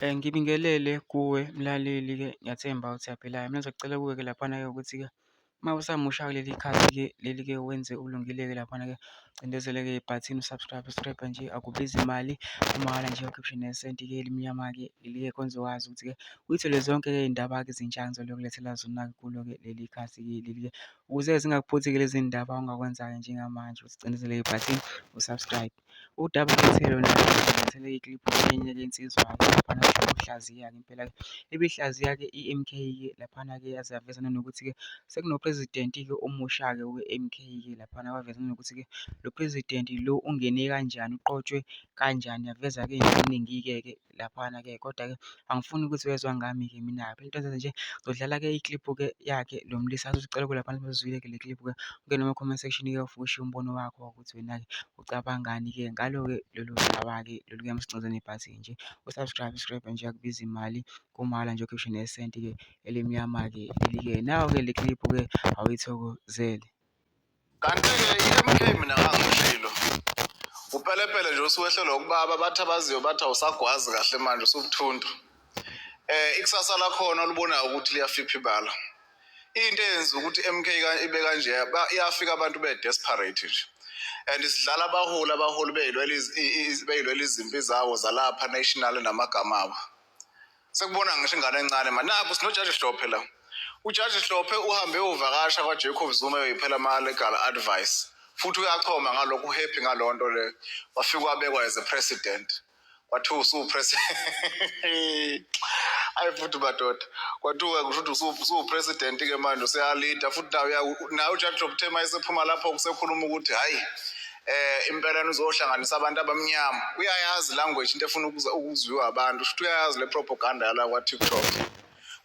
Eh, ngibingelele kuwe mlaleli-ke ngiyathemba ukuthi uyaphila-ke. Mina ngizokucela kuwe-ke laphana-ke ukuthi-ke uma usamusha kuleli khasi-ke leli-ke wenze ulungile-ke laphana-ke cindezeleke ibhathini u-subscribe subscribe nje akubizi imali umahhala nje ukhiphe nesenti-ke elimnyama-ke leli-ke konze wazi ukuthi-ke uyithole zonke-ke iy'ndaba-ke ezintsha ngizole ukulethela zona kulo-ke leli khasi-ke leli-ke ukuze zingakuphuthi-ke lezi ndaba ongakwenza-ke njengamanje ukuthi cindezeleke ibhathini u-subscribe. Udaba futhi lona nginethemba ikliphu enye yensizwa laphana uhlaziya-ke impela ibihlaziya-ke i-M_K laphana-ke yaze yaveza nanokuthi-ke sekunoPresident-ke omusha-ke we-M_K laphana waveza nanokuthi-ke lo President lo ungene kanjani, uqotshwe kanjani, yaveza-ke nje okuningi-ke ke. laphana-ke kodwa-ke angifuni ukuthi wezwa ngami-ke mina-ke into enzenza nje ngizodlala-ke ikliphu-ke yakhe lo mlisa azozicela kulaphana bazozwile-ke le kliphu-ke ungene ema-comment section-ke ufike ushiye umbono wakho ukuthi wena-ke ucabangani-ke ngalo-ke lolu daba-ke lolu kuyamusinxenxa nebhasi nje usubscribe subscribe nje akubiza imali kumala nje ukhiphe nesenti-ke elimnyama-ke leli-ke nawo-ke le kliphu-ke awuyithokozele Kanti-ke i-MK mina ngangishilo upelepele nje usuwehlelwa ukubaba bathi abaziyo bathi awusagwazi kahle manje usubuthuntu eh ikusasa lakhona olubonayo ukuthi liyafiphi bala into eyenza ukuthi MK ibe kanje iyafika abantu be desperate nje and sidlala abaholi abaholi beyilwela beyilwela izimpi zawo zalapha national namagama abo sekubona ngisho ingane encane manje nakho sinojaji hlophe la ujaji hlophe uhambe uvakasha kwajacob zuma yoyiphela ama-legal advice futhi uyachoma ngalokho uhappy ngalo nto le wafike wabekwa as a president kwathiwa usuwupresident ayi futhi madoda kwathiwa kusho ukuthi usuwupresident ke manje useyalida futhi naye naye ujaji hlophe uthe uma esephuma lapho kusekhuluma ukuthi hhayi eh impela nizohlanganisa abantu abamnyama uyayazi language into efuna ukuzwiwa abantu futhi uyayazi le propaganda yala kwa TikTok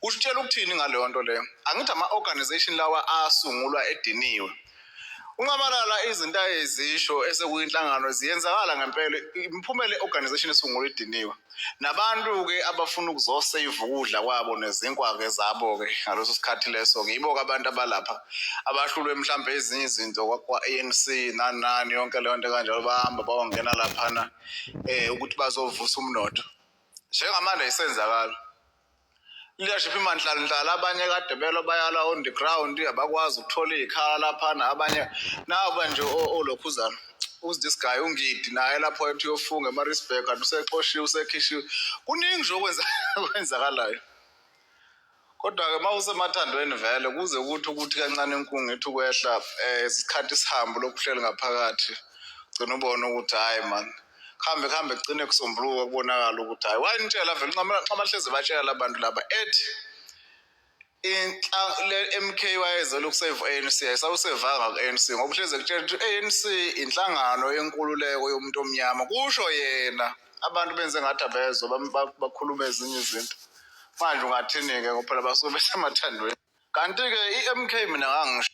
usitshela ukuthini ngaleyo nto leyo angithi ama organization lawa asungulwa ediniwe unqamalala izinto ayezisho esekuyinhlangano ziyenzakala ngempela imiphumela i-organization esungulwa ediniwe Nabantu-ke abafuna ukuzoseyiva ukudla kwabo nezinkwa-ke zabo-ke ngaleso sikhathi leso-ke yibo-ke abantu abalapha abahlulwe mhlawumbe ezinye izinto kwa-ANC nani nani yonke leyo nto kanjalo bahamba bayongena laphana um ukuthi bazovusa umnotho njengamanje ayisenzakalo leadership imanhlanhlala abanye kade belo bayala on the ground abakwazi ukuthola iy'khala laphana abanye naba nje olokhuzana who's this guy ungidi naye lapho ethi uyofunga emarisburg kanti usexoshiwe usekhishiwe kuningi nje okwenzakalayo kodwa-ke uma usemathandweni vele kuze kuthi ukuthi kancane inkungu ethi ukwehla um isikhathi sihambe lokhu uhleli ngaphakathi gcina ubone ukuthi hhayi mani kuhambe kuhambe kugcine kusombuluka kubonakala ukuthi hhayi wayinitshela vele nxamahlezi batshela labantu laba ethi le-mk wayezela ukuseva u-anc ayisawusevanga ku-anc ngoba uhlezi ekutshela ukuthi i-anc inhlangano yenkululeko yomuntu omnyama kusho yena abantu benze ngathi abezwa bakhuluma ezinye izinto manje ungathini-ke ngoba phela basuke besemathandweni kanti-ke i-mk mina ngangisho